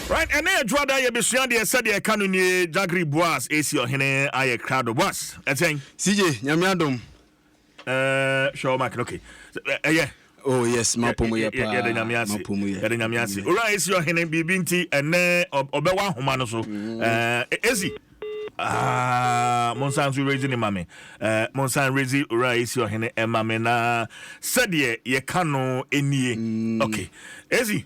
Right, ɛnɛ yɛ dwoada yɛbɛsua deɛ sɛdeɛ ɛka no nie Jagri Boaz ɛsi ɔhene ayɛ krado Boaz ɛkyɛn CJ nyame adom ɛɛ hwɛ ɔmak no okay ɛyɛ oh yes mapomu yɛ paa yɛde nyame ase mapomu yɛ yɛde nyame ase owura ɛsi ɔhene biribi nti ɛnɛ ɔbɛwɔ ahoma no so ɛɛ ɛsi Ah, monsan nso rezi ne mame eh, monsan rezi owura ɛsi ɔhene ɛmame na sɛdeɛ yɛka no ɛnie mm. okay ɛsi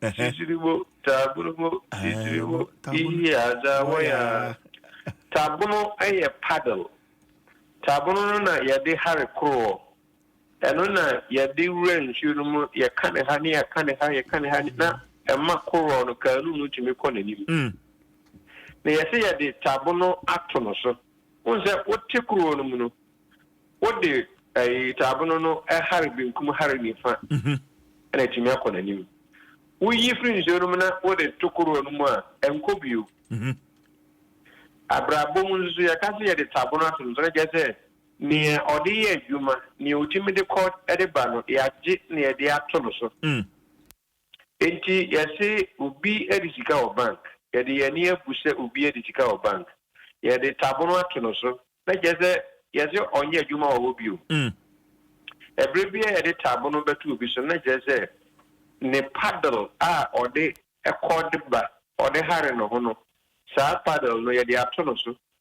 Titiribo, Taburubo, Titiribo, Iyi adza wɔyɛ a. Tabono yɛ paddle. Tabono no na yɛde hare koroɔ. Ɛno na yɛde wura nsuo no mu, yɛka ne ha ne yɛka ne ha, yɛka ne ha ne na ɛma koroɔ no, kaanu no tumi kɔ n'anim. Na yɛse yɛde tabono ato no so. Wohu sɛ wote koroɔ no mu no, wode taabone no hare benkum hare nifa na atumi akɔ n'anim. Woyi firi nsuo no mu na wode to koroɔ no mu a, ɛnkɔ bio. Mhm. Abrabɔ mu nso yɛka sɛ yɛde taabone ato no so na kyerɛ sɛ nea ɔde yɛ adwuma, nea ɔtumi de kɔ de ba no, yɛagye na yɛde ato no so. Mm. Enti yɛse obi de sika wɔ bank, yɛde yɛn ani abu sɛ obi adi sika wɔ bank, yɛde tabono ato no so, na kyerɛ sɛ yɛse ɔnyɛ adwuma wɔ hɔ bio. Ɛberɛ biara yɛde tabono bɛto obi so no, na kyerɛ sɛ ne paddle a ɔde kɔ de ba, ɔde hare ne ho no, saa paddle no yɛde ato no so,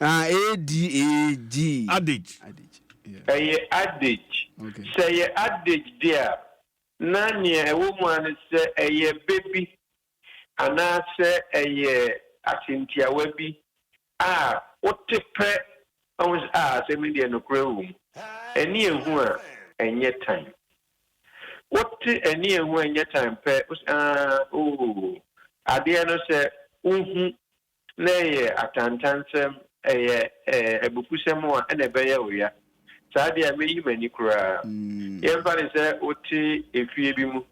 Ah, A-D-A-G. Adage. Adage. Yeah. Ɛyɛ adage. Okay. Sɛ ɛyɛ adage de a, na nea ɛwɔ mu ara ne sɛ ɛyɛ bɛ bi anaasɛ ɛyɛ asentiawa bi a wote pɛ na wohu sɛ, ah, asɛm yi deɛ nokorɛ wɔ mu. Ani a ɛhu a ɛnyɛ tan. Wote ani a ɛhu a ɛnyɛ tan pɛ, wo sɛ, ah, oo, adeɛ no sɛ wohu na ɛyɛ atantansɛm, ɛyɛ abufuhsɛm a, ɛna ɛbɛyɛ wo ya. Saa deɛ a, mɛyi m'ani koraa. Yɛmfa no sɛ wote efie bi mu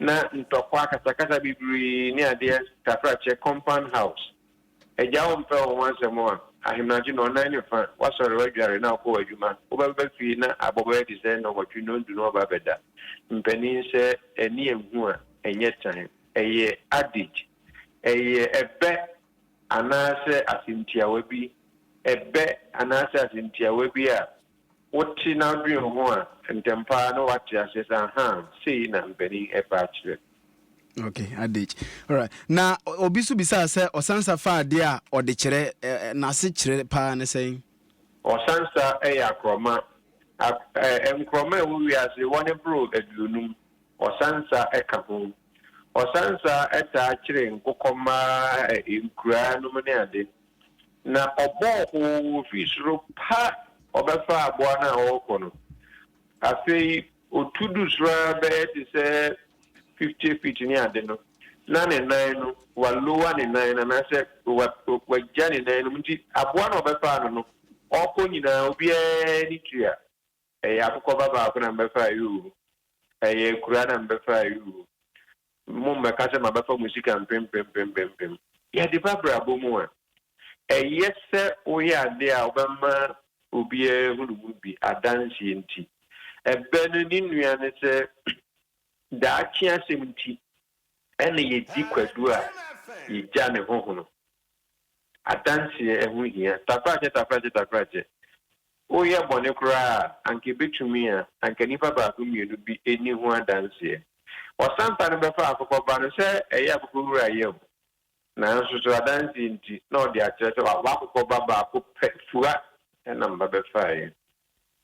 na ntɔkwa, akasakasa bebree ne adeɛ tafrakyɛ, compound house. Agya wo mpɛ wo ho asɛm a, ahemadwo nnɔnnan ne fa, woasɔre, woadware na wokɔ w'adwuma. Wobɛba fie na abɔ bɛyɛ te sɛ nnɔnwɔtwe, nnɔndu na woaba abɛda. Mpanin sɛ ani anhu a, ɛnyɛ tan. Ɛyɛ adage. Ɛyɛ ɛbɛ anaasɛ asɛmtiawa bi, ɛbɛ anaasɛ asɛmtiawa bi a wote na wodwen ho a, ntɛmpa ara na woate aseɛ sɛ, ahaa, sei na mpanin ɛbɛ akyerɛ. Okay, adage. Alright. Na obi nso bisaa sɛ ɔsansa fa adeɛ a ɔde kyerɛ n'ase kyerɛ paa ne sɛn? Ɔsansa yɛ akorɔma. Nkorɔma a ɛwɔ wiase wɔne boro aduonum. Ɔsansa ka ho. Ɔsansa taa kyere nkokɔmma a nkuraa nom ne ade. Na ɔbɔ hoo fi soro pa ɔbɛfa aboa no a ɔrekɔ no. Afei ɔtu du soro ara bɛyɛ te sɛ fifty feet ne ade no, na ne nan no, walowa ne nan no anaasɛ wagya ne nan no mu. Nti aboa no a ɔbɛfaa no no, ɔrekɔ nyinaa obiara ani tua. Ɛyɛ akokɔba baako na mebɛfa ayuu, ɛyɛ akuraa na mebɛfa ayuu, mo mmɛka sɛ mabɛfa mo sika mpempempempempem. Yɛde ba abrabɔ mu a, ɛyɛ sɛ woyɛ adeɛ a wobɛma obiara ahunu mu bi adanseɛ nti. Ɛbɛ no ne nua ne sɛ daakye asɛm nti na yɛdi kwadu a yɛgya ne ho hono. Adanseɛ ɛho hia. Takrakyɛ takrakyɛ takrakyɛ Woyɛ bɔne koraa a, anka ebetumi a anka nnipa baako mmienu bi nni ho adanseɛ. Ɔsɛmpa no bɛfa akokɔba no sɛ ɛyɛ akokɔwura yam, nanso so adanseɛ nti na ɔde akyerɛ sɛ wawo akokɔba baako pɛ? Fua na mma bɛfaeɛ.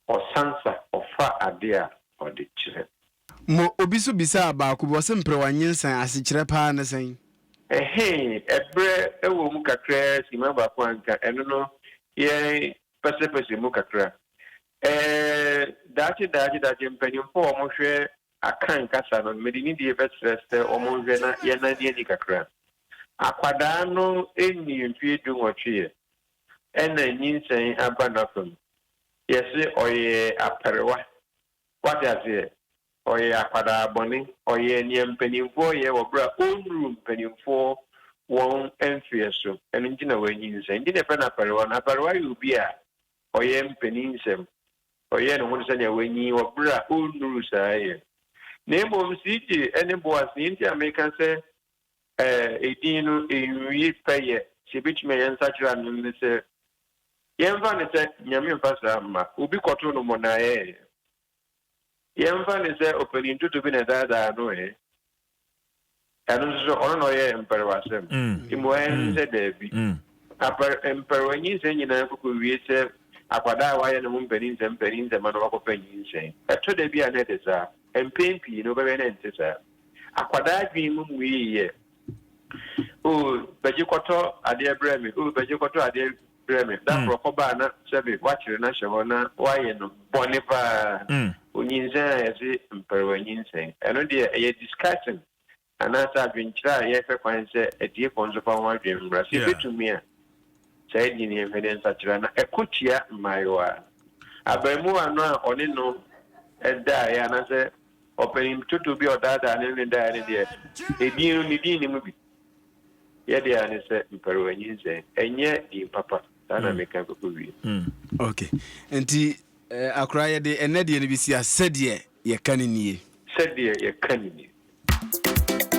Ɔsansa, ɔfa adeɛ a ɔde kyerɛ. Mo, obi nso bisaa baako bi, ɔse mprewa nyensan asekyerɛ paa ne sɛn? Ɛhee, ɛberɛ wɔ mu kakraa simma baako a anka ɛno no yɛn pɛsɛpɛsɛ mu kakra. Ɛɛ, daakye daakye daakye mpanyimfo a wɔhwɛ Akan kasa no, mede nidie bɛsrɛ sɛ wɔnhwɛ na yɛnnane ani kakra. Akwadaa no nnii mfeɛ dunwɔtweɛ ɛna nyinsɛn aba n'afam. Yɛse ɔyɛ aperewa. Wate aseɛ? Ɔyɛ akwadaa bɔne. Ɔyɛ nea mpanimfoɔ yɛ wɔ berɛ a ɔnnuruu mpanimfoɔ wɔn mfeɛ so. Ɛno nti na wannyinsɛn. Nti na yɛfrɛ no apɛrewa no. Apɛrewa yɛ obi a ɔyɛ mpanin nsɛm. Ɔyɛ ne ho te sɛ nea wanyin wɔ berɛ a ɔnnuruu saa yɛ. Na mmom CJ ne Boas, nea nti a meka sɛ edin no nwie pɛyɛ sɛ ɛbɛtumi a yɛnsakyera no ne sɛ, yɛmfa no sɛ, Nyame mfa saa mma. Obi kɔtoo no mmonnaaɛɛ. Yɛmfa no sɛ ɔpanyin tutu bi na ɛdaadaa no ɛ? Ɛno nso so, ɔno na ɔyɛ mpɛrewasɛm? Mmuae no sɛ dabi. Apɛr, mpɛrewa nyinsɛn nyinaa kokowie sɛ akwadaa a wayɛ ne ho mpaninsɛm mpaninsɛm ma na wakɔpɛ nyinsɛn. Ɛtɔ da bi a na ɛte saa. Mpɛn pii no, wobɛhwɛ na ɛnte saa. Akwadaa adwene mu mmuei yɛ, Oh, Bɛgye kɔtɔ adeɛ brɛ me, oh, Bɛgye kɔtɔ adeɛ brɛ me. Da koro ɔkɔbaa na sɛbe wakyere no ahyɛ hɔ na wayɛ no bɔne paa. Onyinsɛn a yɛse mparewa nyinsɛn. Ɛno deɛ ɛyɛ discussion anaasɛ adwenkyerɛ a yɛhwɛ kwan sɛ atiefo nso fa ho adwene mmra. Sɛ yɛbɛtumi a, saa din no yɛnhwɛ ne nsakyera na ɛko tia mmaayewa. Abarimuwa no a ɔne no daeɛ anaasɛ ɔpanin totobi a ɔdaadaa ne ne daeɛ no deɛ, edin no, ne din no mu bi. Yɛdeɛ ara ne sɛ mparewa nyinsɛn ɛnyɛ din papa. Saa na meka kɔkɔ wie. Ok. Nti akora yɛde ɛnnɛ deɛ no bɛsi a sɛdeɛ yɛka no nie. Sɛdeɛ yɛka no nie.